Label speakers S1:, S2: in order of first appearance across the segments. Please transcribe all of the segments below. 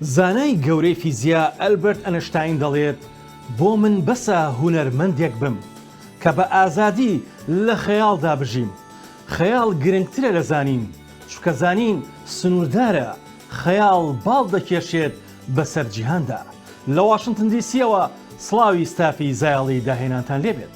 S1: زانای گەورەی فیزیا ئەلبەرت ئەنشتاین دەڵێت، بۆ من بەسە هونەرمەندێک بم، کە بە ئازادی لە خەیاڵدا بژیم. خەیاڵ گرنگترە لە زانین، چونکە زانین سنووردارە، خەیاڵ باڵ دەکێشێت بەسەر جیهاندا. لە واشنتن دی سییەوە سڵاوی ستافی زایەڵی داهێنانتان لێبێت.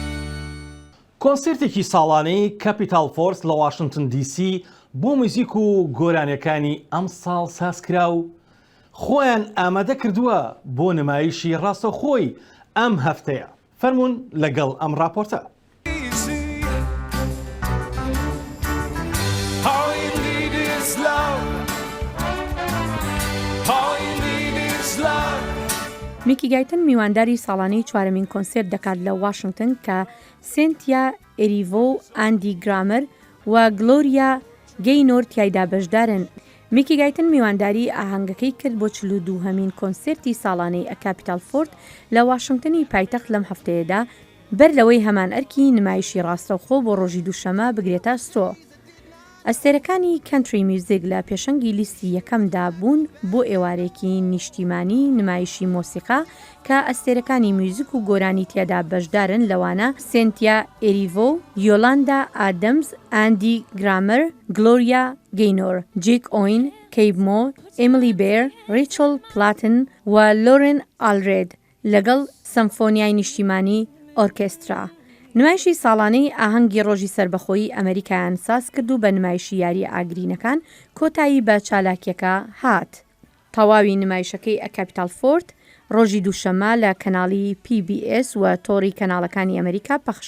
S1: کۆنسێرتێکی ساڵانەی کەپیتاڵ فۆرس لە واشنتن دی سی بۆ موزیک و گۆرانیەکانی ئەم ساڵ سازکرا و خۆیان ئامادە کردووە بۆ نمایشی ڕاستەخۆی ئەم هەفتەیە فەرمونون لەگەڵ ئەم راپۆرتە.
S2: میکی گایتن میوانداری ساڵانەی چوارەمین کۆنسێرت دەکات لە واشنگتن کە سێنتیا ئێریڤۆ و ئاندی گرامەر و گلۆریا گەینۆر تیایدا بەشدارن میکی گایتن میوانداری ئاهەنگەکەی کرد بۆ چلو دووهەمین کۆنسێرتی ساڵانەی ئەکاپیتال فۆرت لە واشنگتنی پایتەخت لەم هەفتەیەدا بەر لەوەی هەمان ئەرکی نمایشی ڕاستەوخۆ بۆ ڕۆژی دووشەمە بگرێتە ئەستۆ. ئەستێرەکانی کەنتری میوزیک لە پێشەنگی لیستی یەکەمدا بوون بۆ ئێوارەیەکی نیشتیمانی نمایشی مۆسیقا کە ئەستێرەکانی میوزیک و گۆرانی تیادا بەشدارن لەوانە سێنتیا ئێریڤۆ، یۆلاندا ئادەمز، ئاندی گرامەر، گلۆریا گەینۆر، جیک ئۆین، کەیب مۆ، ئێمیلی بێر، ڕیچڵ پلاتن و لۆرێن ئالرێد لەگەڵ سەمفۆنیای نیشتیمانی ئۆرکێسترا نمایشی ساڵانەی ئاهەنگی ڕۆژی سەربەخۆیی ئەمەریکایان سازکرد و بە نمایشی یارییە ئاگرینەکان کۆتایی بە چالاکیەکە هات. تەواوی نمایشەکەی A Capital Fort ڕۆژی دووشەممە لە کەناڵی پی بی ئێس و تۆڕی کەناڵەکانی ئەمەریکا پەخش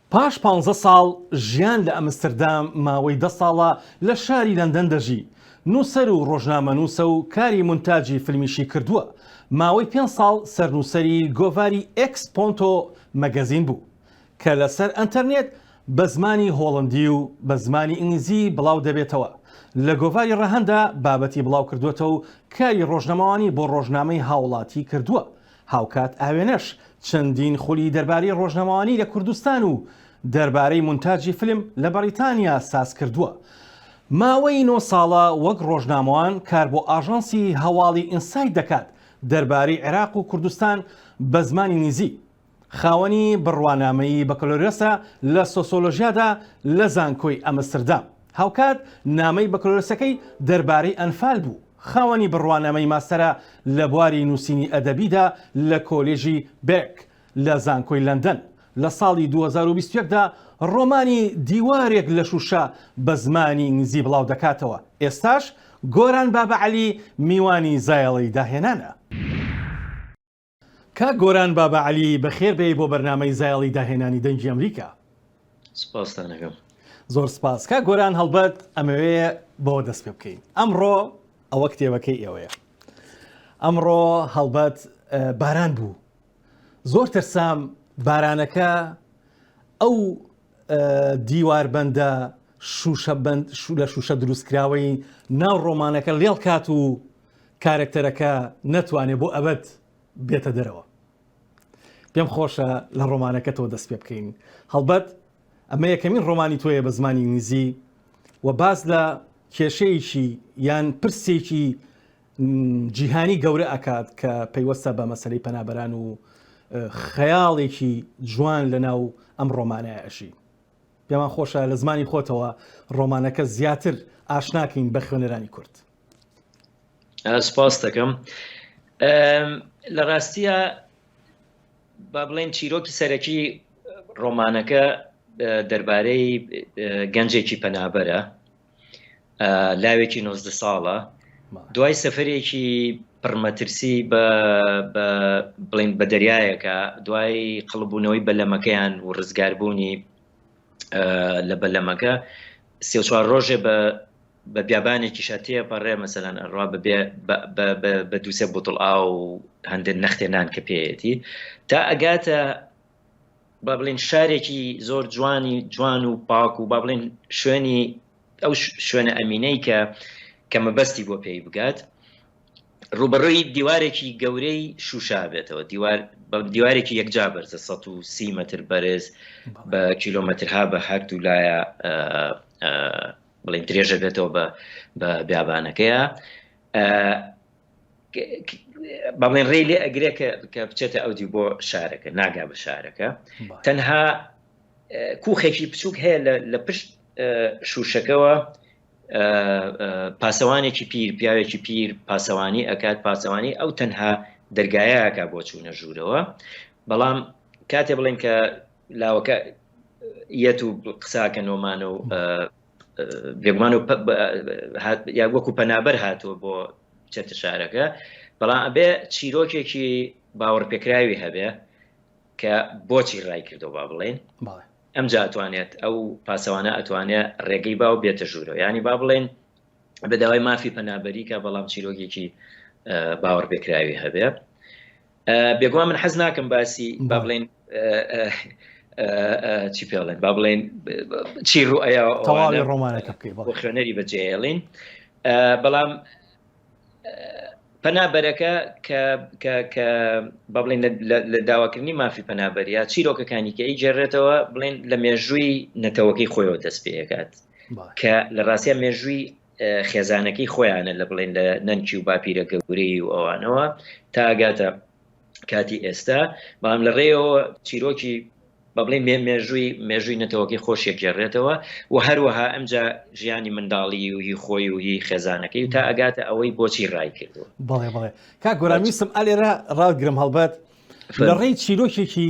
S1: پاش پانزە ساڵ ژیان لە ئەمستردام ماوەی دە ساڵە لە شاری لەندەن دەژی، نووسەر و ڕۆژنامەنووسە و کاری مونتاجی فیلمیشی کردووە، ماوەی پێنج ساڵ سەرنووسەری گۆڤاری ئێکس پۆنتۆ مەگەزین بوو کە لەسەر ئەنتەرنێت بە زمانی هۆڵندی و بە زمانی ئینگلیزی بڵاو دەبێتەوە، لە گۆڤاری ڕەهەنددا بابەتی بڵاوکردووەتەوە و کاری ڕۆژنەمەوانی بۆ ڕۆژنامەی هاوڵاتی کردووە هاوکات ئاوێنەش چەندین خولی دەربارەی ڕۆژنەمەوانی لە کوردستان و دەربارەی مونتاجی فلم لە بەڕیتانیا ساز کردووە. ماوەی نۆ ساڵە وەک ڕۆژنامەوان کار بۆ ئاژانسی هەواڵی ئینسایت دەکات دەربارەی عێراق و کوردستان بە زمانی نیزی. خاوەنی بڕوانامەیی بەکەلۆریۆسە لە سۆسۆلۆژیادا لە زانکۆی ئەمستردام. هاوکات نامەی بەکەلۆریۆسەکەی دەربارەی ئەنفال بوو. خاوەنی بڕوانامەی ماستەرە لە بواری نووسینی ئەدەبیدا لە کۆلێژی بێک لە زانکۆی لەندەن، لە ساڵی دوو هەزار و بیست و یەک دا ڕۆمانی دیوارێک لە شووشە بە زمانی ئینگلیزی بڵاو دەکاتەوە، ئێستاش گۆران بابەعەلی میوانی زایەڵەی داهێنانە. کاک گۆران بابە عەلی بەخێر بێی بۆ بەرنامەی زایەڵی داهێنانی دەنگی ئەمریکا. سپاستان
S3: ئەکەم. زۆر
S1: سپاس کاک گۆران هەڵبەت ئەمەوێ بەوە دەست پێ بکەین ئەمڕۆ ئەوە کتێبەکەی ئێوەیە ئەمڕۆ هەڵبەت باران بوو زۆر ترسام بارانەکە ئەو دیواربندە شوشە لە شوشە دروستکراوەی ناو ڕۆمانەکە لێڵ کات و کارەکتەرەکە نەتوانێ بۆ ئەبەد بێتە دەرەوە. پێم خۆشە لە ڕۆمانەکەتەوە دەست پێ بکەین. هەڵبەت ئەمە یەکەمین ڕۆمانی تۆیە بە زمانی ئینگلیزی و باس لە کێشەیەکی یان پرسێکی جیهانی گەورە ئەکات کە پەیوەستە بە مەسلەی پەنابەران و خەیاڵێکی جوان لە ناو ئەم ڕۆمانای ئەشی. پێمان خۆشە لە زمانی خۆتەوە ڕۆمانەکە زیاتر ئاشناکەین بە خوێنەرانی کورد. سپاس
S3: دەکەم لە ڕاستیە با بڵێن چیرۆکی سەرەکی ڕۆمانەکە دەربارەی گەنجێکی پەنابەرە لاوێکی 90 ساڵە دوای سەفرێکی پڕمەترسی بە بڵین بە دەریایەکە دوای قڵبوونەوەی بەلەمەکەیان و ڕزگاربوونی لە بەلەمەکە سێ چوار ڕۆژێ بە بە بیابانێکیشا تێئەپەڕێ مەسەلەن ئەڕوا بەبێ بە دوو سێ بوتڵ ئاو و هەندێ نەختێ نان کە پێیەتی تا ئەگاتە با بڵێن شارێکی زۆر جوانی جوان و پاک و با بڵێن شوێنی ئەو شوێنە ئەمینەی کە کە مەبەستی بۆ پێی بگات ڕوبەڕووی دیوارێکی گەورەی شوشا بێتەوە دیوار بە دیوارێکی یەکجا بەرزە 130 متر بەرز بە کیلومترها بە هەردوو لایە بڵێن درێژە بێتەوە بە بە بیابانەکەیە بەڵێن ڕێ لێ ئەگرێ کە بچێتە ئەودی بۆ شارەکە ناگا بە شارەکە تەنها کوخێکی بچووک هەیە لە پشت شوشەکەەوە پاسەوانێکی پیر پیاوێکی پیر پاسەوانی ئەکات پاسەوانی ئەو تەنها دەرگایەکە بۆ چوونە ژوورەوە بەڵام کاتێ بڵێن کە لاوەکە یەت و قساکە نۆمانە و بێگومان و یا وەکو پەنابەر هاتووە بۆ چەتە شارەکە بەڵام ئەبێ چیرۆکێکی باوەڕ پێکراوی هەبێ کە بۆچی ڕای کردەوە با بڵێن ئەم جاتوانێت ئەو پاسەوانە ئەتوانێت ڕێگەی باو بێتە ژوورەوە ینی با بڵێن بەداوای مافی پەنابەریکە بەڵام چیرۆکێکی باوەڕ پێکراوی هەبێ بێگومان من حەز ناکەم باسی با بڵێن چی پێڵێن با بڵێن چی ڕوئەیە تەواوی ڕۆمانەکە بکەی بۆ خوێنەری بەجێڵین بەڵام پەنابەرەکە کە بە بڵێن لە داواکردنی مافی پەنابەریا چیرۆکەکانی کە ئیگەڕێتەوە بڵێن لە مێژووی نەتەوەکەی خۆیەوە دەست پێکات کە لە ڕاستە مێژووی خێزانەکەی خۆیانە لە بڵێن لە نەنکی و باپیرە گەورەی و ئەوانەوە تاگاتە کاتی ئێستا بەڵام لە ڕێەوە چیرۆکی بە بڵێ مێ مێژووی مێژووی نەتەوەکەی خۆشێک گێڕێتەوە و هەروەها ئەمجا ژیانی منداڵی و هی خۆی و هی خێزانەکەی و تا ئەگاتە ئەوەی بۆچی ڕای کردو بڵێ بڵێ کا
S1: گۆرامیسم ئالێرە ڕاگرم هەڵبەت لە ڕێی چیرۆکێکی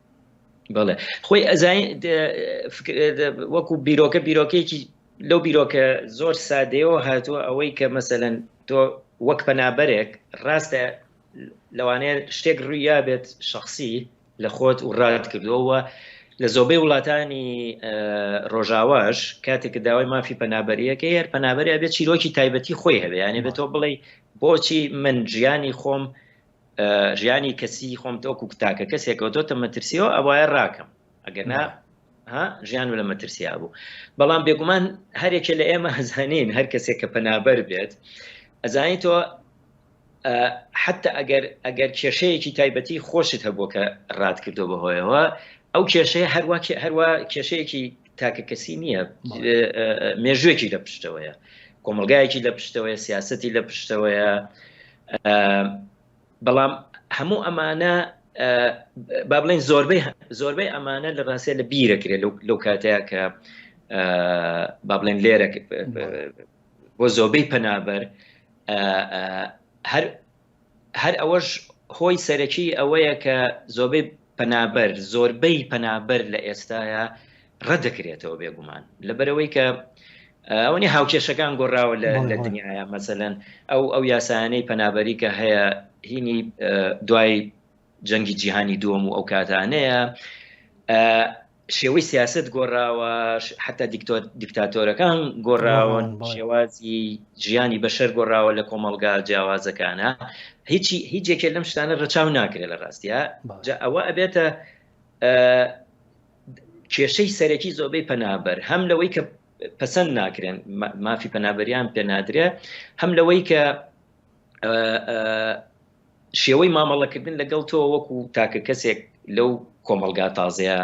S3: بەڵێ خۆی ئەزانین وەکو بیرۆکە بیرۆکەیەکی لەو بیرۆکە زۆر سادەیەوە هاتووە ئەوەی کە مەسەەن تۆ وەک پەنابەرێک ڕاستە لەوانەیە شتێک ڕوویا بێت شخصی لە خۆت و ڕات کردووەوە لە زۆبەی وڵاتانی ڕۆژاواش کاتێک داوای مافی پەنابەریەکە هەر پەنابەری بێت چیرۆکی تایبەتی خۆی هەبێ یانێ بێتەوە بڵێ بۆچی من ژیانی خۆم ژیانی کەسی خۆم تۆکو تاکە کەسێکەوە تۆتە مەترسیەوە ئەوایە ڕاکەم ئەگەنا ژیان لە مەترسیا بوو بەڵام بێگومان هەرێکێ لە ئێمە هەزانین هەر کەسێک کە پەنابەر بێت ئەزانی تۆ حتا ئەگەر ئەگەر کێشەیەکی تایبەتی خۆشت هەبووە کە ڕات کردو بەهۆیەوە ئەو کێشەیە هەروە هەروە کێشەیەکی تاکە کەسی نییە مێژوێکی لە پشتەوەیە کۆمەلگایەکی لە پشتەوەیە سیاستی لە پشتەوەیە بەڵام هەموو ئەمانە با بڵین زۆربەی زۆربەی ئەمانە لە ڕاستە لە بیرەکرێت لەو کاتەیە کە با بڵێن لێرە بۆ زۆربەی پەنابەر هەر هەر ئەوەش هۆی سەرەکی ئەوەیە کە زۆبەی پەنابەر، زۆربەی پەنابەر لە ئێستایا ڕەت دەکرێتەوە بێگومان لەبەرەوەی کە ئەوە نیە هاوکێشەکان گۆڕاوە لە لە دنیایا مەسەلەن ئەو ئەو یاسایانەی پەنابەری کە هەیە هینی دوای جەنگی جیهانی دووەم و ئەو کاتانەیە شێوەی سیاسەت گۆڕاوە حتا دیکتاتۆرەکان گۆڕاون شێوازی ژیانی بەشەر گۆڕاوە لە کۆمەلگا جیاوازەکانە هیچی هیچێکێ لەم شتانە ڕەچاو ناکرێت لە ڕاستە جا ئەوە ئەبێتە کێشەی سەرەکی زۆبەی پەنابەر هەم لەوەی کە پەسەند ناکرێن مافی پەنابەریان پێنادرێ هەم لەوەی کە شێوەی مامەڵەکردن لەگەڵ تۆ وەکو تاکە کەسێک لەو کۆمەلگا تازەیە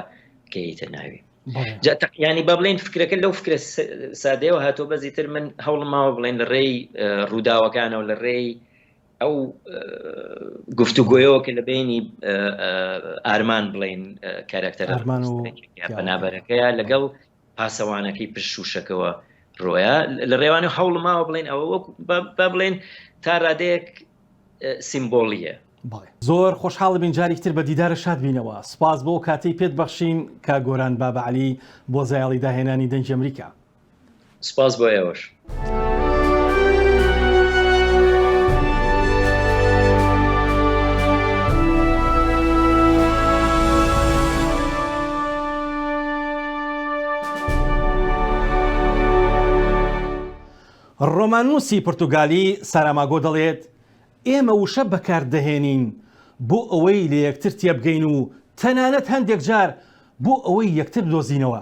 S3: کەیتە ناوی ینی با بڵێن فکرەکە لەو فکرە سادەیەوە هاتۆ بەزی تر من هەوڵ ماوە بڵێن لە ڕێی ڕووداوەکانەوە لە ڕێی ئەو گفتوگۆیەوە کە لە بینی ئارمان بڵین کارکتەرماننابەرەکەیە لەگەڵ پاسەوانەکەی پشت شووشەکەوە رۆیا لە رێوانێ و هەوڵم ماوە بڵێن ئەوە وەک با بڵێن تا رادەیەک سیمبۆڵیە. بەڵێ زۆر
S1: خۆشحاڵبین جاریک تر بە دیدارە شاد بینەوە سپاس بۆ کاتەی پێت بەخشین کا گۆران بابەعلی بۆ زایەڵی داهێنانی دەنگی ئەمریکا. سپاس
S3: بۆ ئێوەش.
S1: ڕۆماننووسی پرتوگالی ساراماگۆ دەڵێت ئێمە وشە بەکاردەهێنین بۆ ئەوەی لە یەکتر تێبگەین و تەنانەت هەندێک جار بۆ ئەوەی یەکتر بدۆزینەوە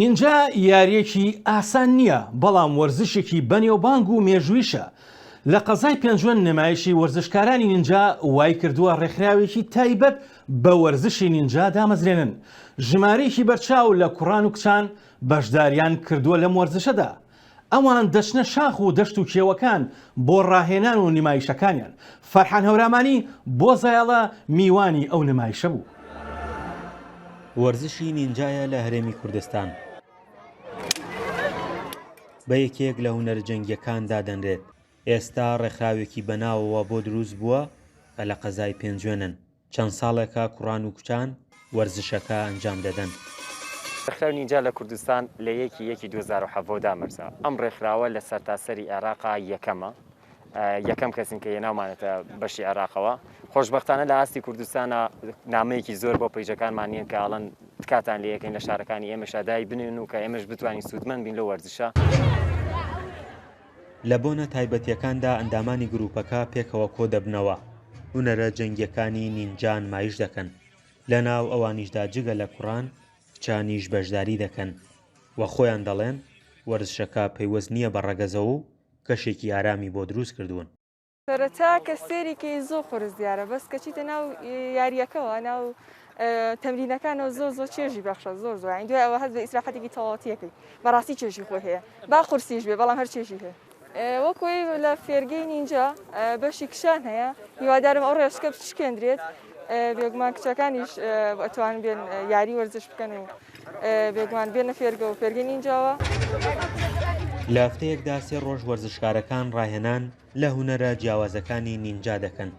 S1: نینجا یاریەکی ئاسان نییە بەڵام وەرزشێکی بەنێوبانگ و مێژویشە لە قەزای پێنجوێن نمایشی وەرزشکارانی نینجا وای کردووە ڕێکخراوێکی تایبەت بە وەرزشی نینجا دامەزرێنن ژمارەیەکی بەرچاو لە کوڕان و کچان بەشداریان کردووە لەم وەرزشەدا ئەوان دەچنە شاخ و دەشت و کێوەکان بۆ ڕاهێنان و نمایشەکانیان، فەرحان هەورامانی بۆ زایەڵە میوانی ئەو نمایشە بوو. وەرزشی
S4: نینجایە لە هەرێمی کوردستان بە یەکێک لە هونەرە جەنگییەکان دادەنرێت، ئێستا ڕێکخراوێکی بەناوەوە بۆ دروست بووە کە لە قەزای پێنجوێنن. چەند ساڵێکە کوڕان و کچان وەرزشەکە ئەنجام دەدەن. ڕێکخراوی
S5: نینجا لە کوردستان لە یەکی یەکی دوو هەزار و حەڤۆ دامەرزا، ئەم ڕێکخراوە لە سەرتاسەری عێراقا یەکەمە، یەکەم کەسین کە هێناومانەتە بەشی عێراقەوە، خۆشبەختانە لە ئاستی کوردستانا نامەیەکی زۆر بۆ پەیجەکانمان نێن کە ئەڵێن تکاتان لێ ئەکەین لە شارەکانی ئێمەشا دای بنێن و کە ئێمەش بتوانین سوودمەند بین لەو وەرزشە.
S4: لە بۆنە تایبەتییەکاندا ئەندامانی گرووپەکە پێکەوە کۆدەبنەوە هونەرە جەنگییەکانی نینجا نمایش دەکەن، لەناو ئەوانیشدا جگە لە کوڕان کچانیش بەشداری دەکەن و خۆیان دەڵێن وەرزشەکە پەیوەست نییە بە ڕەگەزەوە و کەشێکی ئارامی بۆ دروست کردوون. سەرەتا
S6: کە سێری کەی زۆ قورس دیارە بەس کە چیتە ناو یاریەکەەوە ناو تەمرینەکانەوە زۆ زۆ چێژی بەخشە زۆر زۆین دوای ئەوە هەز بە ئیسراحەتێکی تەواوەتیەکەی بەڕاستی چێژی خۆی هەیە با قورسیش بێ بەڵام هەر چێژی هەیە وەکوی لە فێرگەی نینجا بەشی کشان هەیە هیوادارم ئەو ڕێشکە بچکێندرێت بێگومان کچەکانیش ئەتوان بێن یاری وەرزش بکەن و بێگومان بێنە فێرگە و فێرگەی نینجاوە.
S4: لە هەفتەیەکدا سێ ڕۆژ وەرزشکارەکان ڕاهێنان لە هونەرە جیاوازەکانی نینجا دەکەن،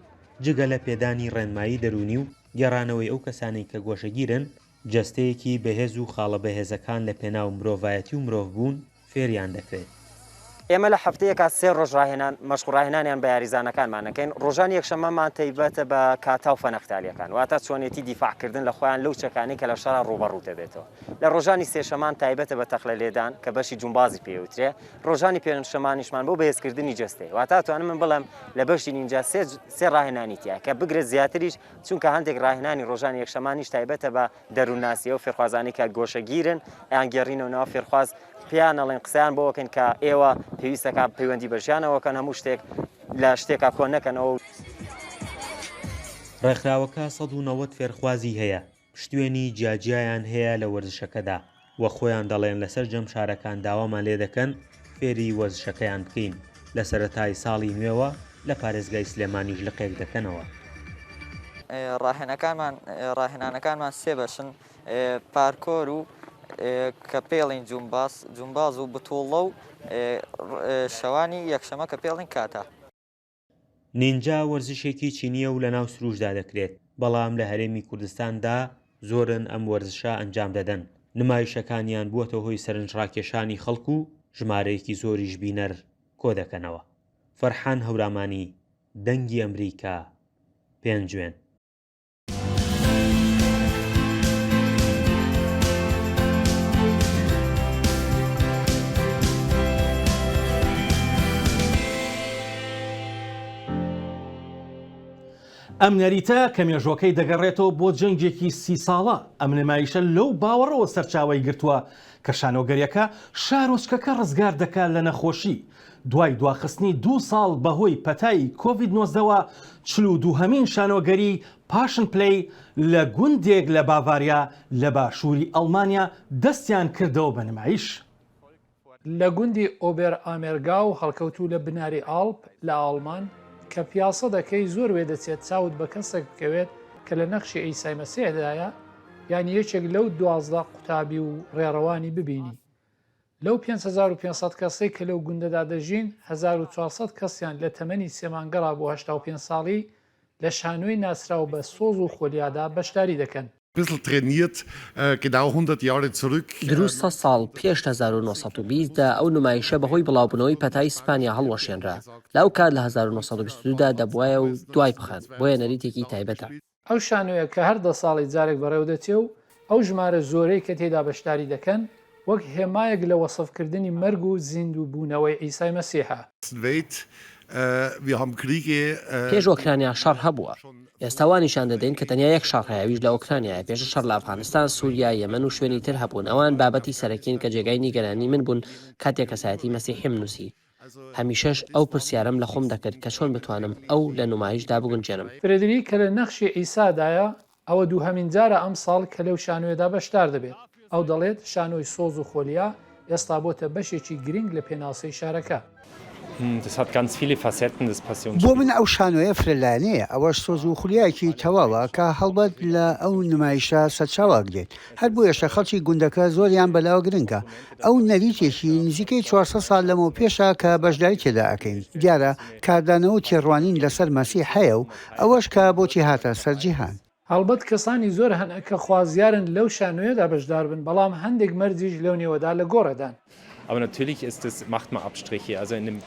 S4: جگە لە پێدانی ڕێنمایی دەروونی و گێڕانەوەی ئەو کەسانەی کە گۆشەگیرن، جەستەیەکی بەهێز و خاڵە بەهێزەکان لە پێناو مرۆڤایەتی و مرۆڤبوون فێریان دەکرێت. ئێمە لە
S5: هەفتەیەکا سێ ڕۆژ ڕاهێنان، مەشق و ڕاهێنانیان بە یاریزانەکانمان دەکەین، ڕۆژانی یەکشەممەمان تەیبەتە بە کاتا و فەنەختالیەکان، واتە چۆنێتی دیفاع کردن لە خۆیان لەو چەکانەی کە لە شەڕا ڕووبەڕوو دەبێتەوە، لە ڕۆژانی سێشەمان تایبەتە بە تەقلە لێدان کە بەشی جومبازی پێ ئەوترێ، ڕۆژانی پێنجشەمانیشمان بۆ بەهێزکردنی جەستەیە واتا توانم من بڵێم لە بەشی نینجا سێ ڕاهێنانی تیا کە بگرە زیاتریش چونکە هەندێک ڕاهێنانی ڕۆژانی یەکشەمانیش تایبەتە بە دەروونناسیەوە فێرخوازانی کە گۆشەگیرن ئەیان گێڕینەوە ناو فێرخواز پێیان ئەڵێن قسەیان بۆکەن کە ئێوە پێویستەکە پەیوەندی بەژیانەوەکەن هەموو شتێک لە شتێکا کۆ نەکەنەوە.
S4: ڕێکخراوەکە سەد و نەوەد فێرخوازی هەیە پشتوێنی جیاجیایان هەیە لە وەرزشەکەدا و خۆیان دەڵێن لە سەرجەم شارەکان داوامان لێ دەکەن فێری وەرزشەکەیان بکەین لە سەرەتای ساڵی نوێوە لە پارێزگای سلێمانیش لقێک دەکەنەوە.
S7: ڕاهێنانەکانمان سێ بەشن، پارکۆر و کە پێڵین جومباس، جومباز و بتوڵە و شەوانی یەکشەمە کە پێڵین کاتا.
S4: نینجا وەرزشێکی چینییە و لەناو سروشدا دەکرێت، بەڵام لە هەرێمی کوردستاندا زۆرن ئەم وەرزشە ئەنجام دەدەن، نمایشەکانیان بووەتە هۆی سەرنجڕاکێشانی خەڵک و ژمارەیەکی زۆریش بینەر کۆدەکەنەوە. فەرحان هەورامانی، دەنگی ئەمریکا، پێنجوێن.
S1: ئەم نەریتە کە مێژۆکەی دەگەڕێتەوە بۆ جەنگێکی سی ساڵە ئەم نمایشە لەو باوەڕەوە سەرچاوی گرتووە کە شانۆگەریەکە شارۆچکەکە ڕزگار دەکات لە نەخۆشی دوای دواخستنی دوو ساڵ بەهۆی پەتای کۆڤید نۆزدە وە، چل و دووهەمین شانۆگەری پاشن پلەی لە گوندێک لە باڤاریا لە باشووری ئەڵمانیا دەستیان کردەوە بە نمایش.
S8: لە گوندی ئۆبێرئامێرگاو هەڵکەوتوو لە بناری ئاڵپ لە ئاڵمان، کە پیاسە دەکەی زۆر وێدەچێت چاوت بە کەسێک بکەوێت کە لە نەخشی عیسای مەسیحدایە یان یەکێک لەو دوازدە قوتابی و ڕێڕەوانی ببینی لەو پێنج هەزار و پێنج سەد کەسەی کە لەو گوندەدا دەژین، هەزار و چوار سەد کەسیان لە تەمەنی سێ مانگەڕا بۆ هەشتا و پێنج ساڵی، لە شانۆی ناسراو بە سۆز و خۆلیادا بەشداری دەکەن. دروست سەد
S9: ساڵ پێش هەزار و نۆ سەد و بیست دا ئەو نمایشە بە هۆی بڵاوبوونەوەی پەتای سپانیا هەڵوەشێنرا، لە ئەو کات لە هەزار و نۆ سەد و بیست و دوو دا دەبوایە و دوای بخەن، بۆیە نەریتێکی تایبەتە. ئەو شانۆیە
S8: کە هەر دە ساڵی جارێک بەڕێوەدەچێ و ئەو ژمارە زۆرەی کە تێیدا بەشداری دەکەن وەک هێمایەک لە وەسفکردنی مەرگ و زیندووبوونەوەی عیسای مەسیحە.
S9: پێش ئۆکرانیا شەڕ هەبووە. ئێستا وا نیشان دەدەین کە تەنیا یەک شەڕ هەیە، ئەویش لە ئۆکرانیایە، پێشتر شەڕ لە ئەفغانستان، سووریا، یەمەن و شوێنی تر هەبوون، ئەوان بابەتی سەرەکین کە جێگای نیگەرانیی من بوون کاتێک کەسایەتیی مەسیحیم نووسی. هەمیشەش ئەو پرسیارەم لە خۆم دەکرد کە چۆن بتوانم ئەو لە نمایش دا بگونجێنم. فرێدریک کە لە نەخشی
S8: عیسادایە، ئەوە دووهەمین جارە ئەمساڵ کە لەو شانۆیەدا بەشدار دەبێت. ئەو دەڵێت، شانۆی سۆز و خۆلیا ئێستا بۆتە بەشێکی گرنگ لە پێناسەی شارەکە.
S10: بۆ من ئەو شانۆیە فرە لایەنەیە، ئەوەش سۆز و خولیایەکی تەواوە کە هەڵبەت لە ئەو نمایشە سەرچاوە ئەگرێت. هەر بۆیەشە خەڵکی گوندەکە زۆریان بەلاوە گرنگە. ئەو نەریتێکی نزیکەی چوار سەد ساڵ لەمەوپێشە کە بەشداری تێدا ئەکەین. دیارە کاردانەوە و تێڕوانین لەسەر مەسیح هەیە و ئەوەش کە بۆچی هاتە سەر جیهان. هەڵبەت کەسانی
S8: زۆر هەن کە خوازیارن لەو شانۆیەدا بەشدار بن، بەڵام هەندێک مەرجیش لەو نێوەدا لە گۆڕێدان.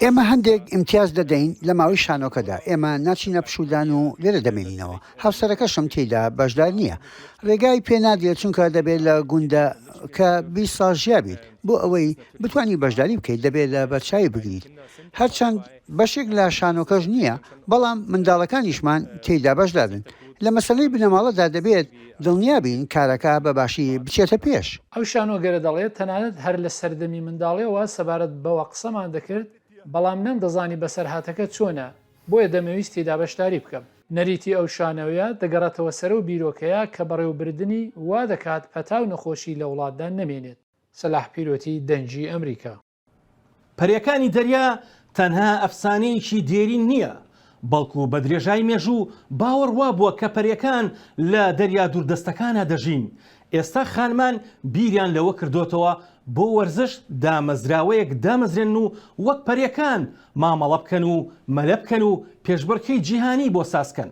S10: ئێمە هەندێک ئیمتیاز دەدەین لە ماوەی شانۆکەدا، ئێمە ناچینە پشوودان و لێرە دەمێنینەوە، هاوسەرەکەشم تێیدا بەشدار نییە، ڕێگای پێ نادرێت چونکە دەبێت لە گوندەکە بیست ساڵ ژیابیت، بۆ ئەوەی بتوانی بەشداری بکەیت دەبێت لە بەرچاوی بگریت، هەرچەند. بەشێک لە شانۆکەش نییە، بەڵام منداڵەکانیشمان تێیدا بەشدارن. لە مەسەلەی بنەماڵەدا دەبێت دڵنیا بین کارەکە بە باشی بچێتە پێش. ئەو شانۆگەرە
S8: دەڵێت، تەنانەت هەر لە سەردەمی منداڵییەوە سەبارەت بەوە قسەمان دەکرد، بەڵام نەمدەزانی بەسەرهاتەکە چۆنە، بۆیە دەمەویست تێیدا بەشداری بکەم. نەریتی ئەو شانۆیە دەگەڕێتەوە سەر ئەو بیرۆکەیە کە بەڕێوەبردنی وا دەکات پەتا و نەخۆشی لە وڵاتدا نەمێنێت. سەلاح پیرۆتی دەنگی ئەمریکا. پەرێکانی
S1: دەریا تەنها ئەفسانەیەکی دێرین نییە، بەڵکو بە درێژای مێژوو باوەڕ وابووە کە پەرێکان لە دەریا دووردەستەکانا دەژین، ئێستا خانمان بیریان لەوە کردۆتەوە بۆ وەرزش دامەزراوەیەک دامەزرێنن و وەک پەرێکان مامەڵە بکەن و مەلە بکەن و پێشبڕکێی جیهانی بۆ ساز کەن.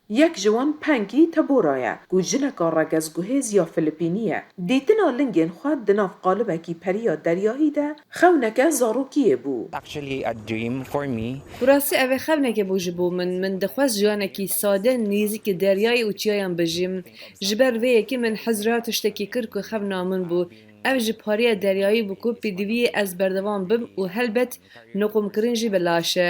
S11: یەک ژە وەم پەنگی تە بۆ رایە گوو ژنەکا رەگەز گوهێز یا فلپینییە دیتنا لنگێن خوە دە ناف قالبەکی پەریا دەریایی دە خەونەکە زاڕووکیێ بوو. Actually a dream for me. بڕاستی
S12: ئەڤە خەونەکێ بوو ژ بۆ من، من دخواست ژیانەکی سادە نیزیک دەریای و چیایان بژیم، ژ بەر ڤەیە ک من حەز را تشتەکی کرد ک خەونا من بوو، ئەڤ ژ پاریە دەریایی بوو ک پیدویێ ئەز بەردەوام بم و هەلبەت نقوم کرن ژی بە لاشە.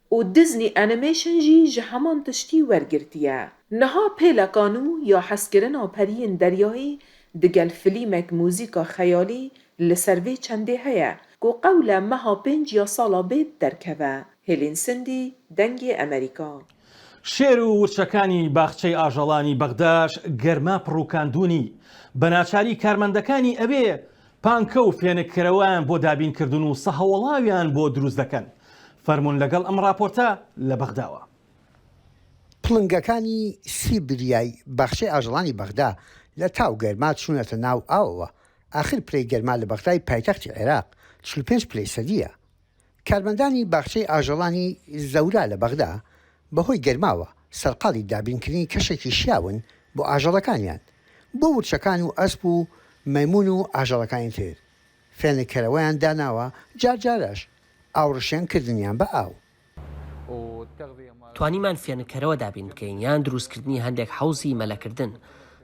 S11: و دیزنی ئەنیمەیشن ژی ژە هەمان تشتی وەرگرتیە. نها پێلەکان و یا حەزکرنا پەریین دەریایی دگەل فلیمەک موزیکا خەیالی لسەر ڤی چەندێ هەیە کو قەولە مەها پێنج یا ساڵا بێت دەرکەڤە، هێلین سندی، دەنگێ ئەمەریکا. شێر و
S1: ورچەکانی باخچەی ئاژەڵانی بەغداش گەرما پڕووکاندوونی، بەناچاری کارمەندەکانی ئەوێ پانکە و فێنک کەرەوەیان بۆ دابین کردوون و سەهۆڵاویان بۆ دروست دەکەن. فەرموون لەگەڵ ئەم ڕاپۆرتە لە بەغداوە. پڵنگەکانی
S10: سیبریای باخچەی ئاژەڵانی بەغدا لە تا و گەرما چوونەتە ناو ئاوەوە، ئاخر پلەی گەرما لە بەغدای پایتەختی عێراق چل و پێنج پلەی سەدییە. کارمەندانی باخچەی ئاژەڵانی زەورا لە بەغدا بەهۆی گەرماوە سەرقاڵی دابینکردنی کەشێکی شیاون بۆ ئاژەڵەکانیان، بۆ ورچەکان و ئەسپ و مەیمون و ئاژەڵەکانی تر فێنککەرەوەیان داناوە، جارجارەش ئاوڕشێن کردنیان بە ئاو.
S9: توانیمان فێنککەرەوە دابین بکەین یان دروستکردنی هەندێک حەوزی مەلەکردن،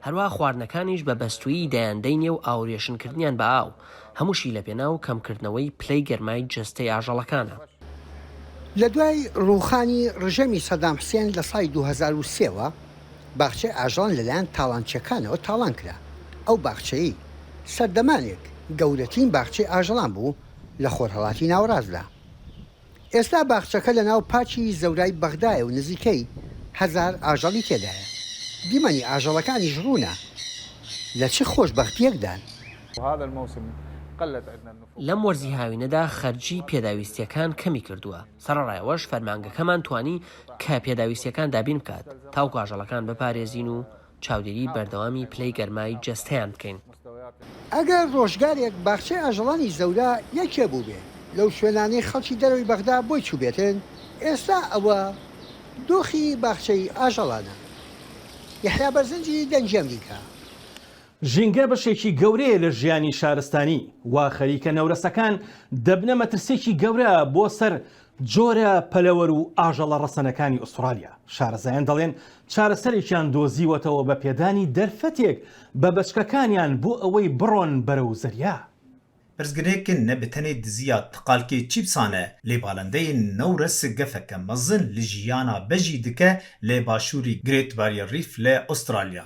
S9: هەروا خواردنەکانیش بە بەستوویی دایان دەینێ و ئاوریشن کردنیان بە ئاو، هەمووشی لە پێناو کەم کردنەوەی پلەی گەرمای جەستەی ئاژەڵەکانە.
S10: لە دوای ڕووخانی ڕژێمی سەدام حسێن لە ساڵی دوو هەزار و سێ وە، باخچەی ئاژەڵان لە لایەن تاڵانچییەکانەوە تاڵان کرا. ئەو باخچەیەی سەردەمانێک گەورەترین باخچەی ئاژەڵان بوو لە خۆرهەڵاتی ناوەڕاستدا. ئێستا باخچەکە لە ناو پاکی زەورای بەغدایە و نزیکەی هەزار ئاژەڵی تێدایە. دیمەنی ئاژەڵەکانیش ڕوونە لە چ خۆشبەختییەکدان.
S9: لەم وەرزی هاوینەدا خەرجیی پێداویستییەکان کەمی کردووە، سەرەڕای ئەوەش فەرمانگەکەمان توانی کە پێداویستییەکان دابین بکات تاوەکو ئاژەڵەکان بپارێزین و چاودێری بەردەوامی پلەی گەرمای جەستەیان بکەین. ئەگەر
S10: ڕۆژگارێک باخچەی ئاژەڵانی زەورا یەکێ بووبێ لەو شوێنانەی خەڵکی دەرەوەی بەغدا بۆی چووبێتن، ئێستا ئەوە دۆخی باخچەی ئاژەڵانە. یەحیا بەرزنجی دەنگی ئەمریکا.
S1: ژینگە بەشێکی گەورەیە لە ژیانی شارستانی، وا خەریکە نەورەسەکان دەبنە مەترسییەکی گەورە بۆ سەر جۆرە پەلەوەر و ئاژەڵە ڕەسەنەکانی ئوستڕالیا، شارەزایان دەڵێن چارەسەرێکیان دۆزیوەتەوە بە پێدانی دەرفەتێک بە بەچکەکانیان بۆ ئەوەی بڕۆن بەرەو زەریا. پرسگرێ
S13: ک نە بتەنێ دزی یا تقالکێ چی بسانە، لێ بالندەێ نەورەس گەفەکە مەزن ل ژیانا بەژی دکە لە باشووری گرێت باریەر ریف لە ئوستڕالیا.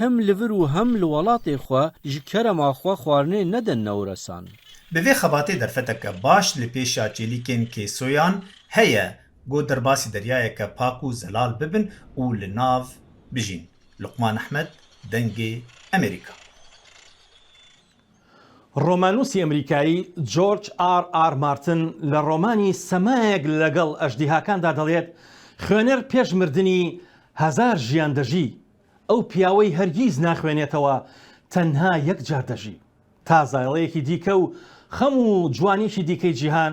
S14: هەم لڤر و هەم لە وەڵاتێ خوە ژ کەرەما خوە خوارنێ نەدەن نەورەسان. بە ڤێ خەباتێ
S13: دەرفەتە کە باش لە پێشا چێلیکێن کێ سۆیان هە یە گۆ دەرباسی دەریایە کە پاک و زەلال ببن و لە ناڤ بژین. لوقمان ئەحمەد، دەنگێ ئەمێریکا.
S1: ڕۆماننووسی ئەمریکایی جۆرج ئاڕ ئاڕ مارتن لە ڕۆمانی سەمایەک لەگەڵ ئەژدیهاکاندا دەڵێت، خوێنەر پێش مردنی هەزار ژیان دەژی، ئەو پیاوەی هەرگیز ناخوێنێتەوە تەنها یەک جار دەژی، تا زایەڵەیەکی دیکە و خەم و جوانیی دیکەی جیهان